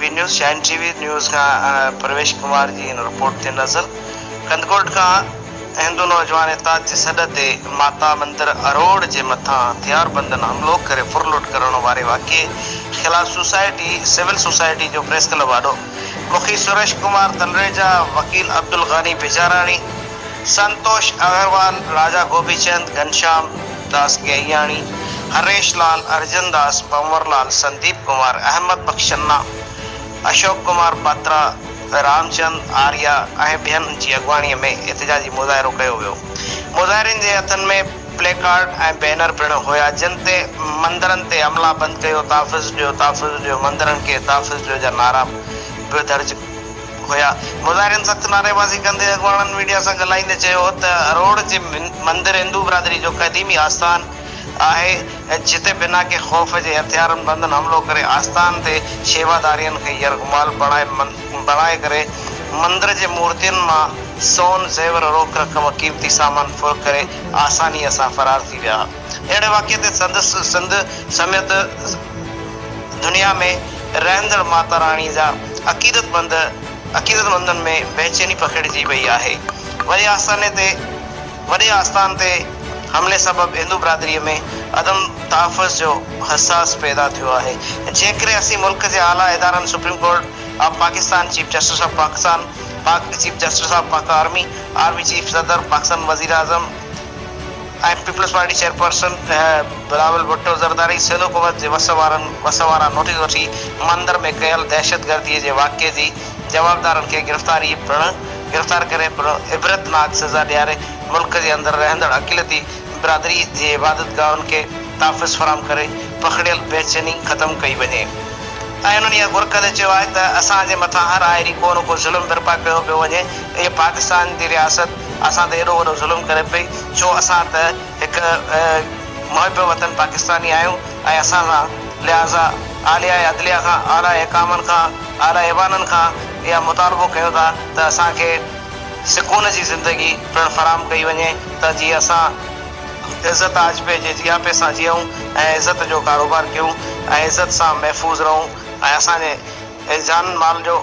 V news چين T V news کان پرويش ڪمار جي هن رپورٽ تي نظر ڪنڌڪوٽ کان هندو نوجوان اتحاد جي سڏ تي ماتا مندر اروڙ جي مٿان هٿياربندن حملو ڪري ڦرلٽ ڪرڻ واري واقعي خلاف سوسائٽي سول سوسائٽي جو پريس ڪلب آڏو مکي سريش ڪمار تلريجا وڪيل عبدالغني بجاراڻي سنتوش اگروال، راجا گوبي چند، گهنشام داس گهياڻي، هريش لال، ارجن داس، پنور لال، سنديپ ڪمار، احمد بخش چنا، اشوڪ ڪمار پاترا، رام چند آريا ۽ ٻين جي اڳواڻي ۾ احتجاجي مظاهرو ڪيو ويو. مظاهرين جي هٿن ۾ پلي ڪارڊ ۽ بينر پڻ هيا جن تي مندرن تي حملا بند ڪيو، تحفظ ڏيو، تحفظ ڏيو، مندرن کي تحفظ ڏيو جا نعرا به درج هيا. مظاهرين سخت نعريبازي ڪندي اڳواڻن ميڊيا سان ڳالهائيندي چيو ته اروڙ جي مندر هندو برادري جو قديمي آستان آهي جتي بنا ڪنهن خوف جي هٿيارن بندن حملو ڪري آستان تي شيوادارين کي يرغمال بڻائي ڪري مندر جي مورتين مان سون زيور روڪ رقم قيمتي سامان ڦر ڪري آساني سان فرار ٿي ويا. اهڙي واقعي تي سندس سنڌ سميت دنيا ۾ رهندڙ ماتا راڻي جا عقيدت مند عقيدت مندن ۾ بيچيني پکيڙجي وئي آهي. وڏي آستاني تي وڏي آستان تي حملي سبب هندو برادري ۾ عدم تحفظ جو حساس پيدا ٿيو آهي. جيڪڏهن اسين ملڪ جي اعليٰ ادارن supreme court of Pakistan, chief justice of Pakistan, Pak chief justice of Pak army, army chief, صدر، پاڪستان وزيراعظم، ۽ peoples party chairperson Bilawal Bhutto Zardari سيلو قوت جي وس وارن وس واران نوٽيس وٺي مندر ۾ ڪيل دهشتگردي جي واقعي جي جوابدارن کي گرفتاري پڻ گرفتار ڪري پڻ عبرت ناڪ سزا ڏياري ملڪ جي اندر رهندڙ اقليتي برادري جي عبادتگاهن کي تحفظ فراهم ڪري پکڙيل بيچيني ختم ڪئي وڃي ۽ انهن اها گهر ڪندي چيو آهي ته اسان جي مٿان هر آهري ڪو نه ڪو ظلم برپا ڪيو پيو وڃي اهي پاڪستان جي رياست اسان تي ايڏو وڏو ظلم ڪري پئي ڇو اسان ته هڪ محب وطن پاڪستاني آهيون ۽ اسان سان لهٰذا اعليٰ عدليه کان اعليٰ حڪامن کان اعليٰ ايوانن کان اها مطالبو ڪيون ٿا ته اسان کي سڪون جي زندگي پڻ فراهم ڪئي وڃي ته جيئن اسان عزت آجپي جي جياپي سان جيئون ۽ عزت جو ڪاروبار ڪيون ۽ عزت سان محفوظ رهون ۽ اسان جي جانن مال جو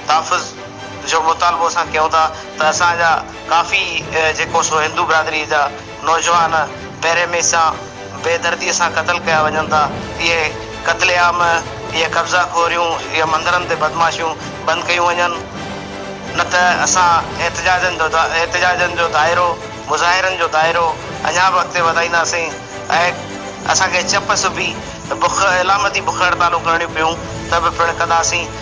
تحفظ جو مطالبو اسان ڪيون ٿا ته اسان جا ڪافي جيڪو سو هندو برادري جا نوجوان پهرين مئي سان بي دردي سان قتل ڪيا وڃن ٿا اهي قتل عام اهي قبضا خوريون اهي مندرن تي بدمعاشيون بند ڪيون وڃن نه ته اسان احتجاجن جو احتجاجن جو دائرو مظاهرن جو دائرو اڃا به اڳتي وڌائينداسين اهي اسان کي چپ سبي بک علامتي بک هڙتالون ڪرڻيون پيون ته به پڻ ڪنداسين.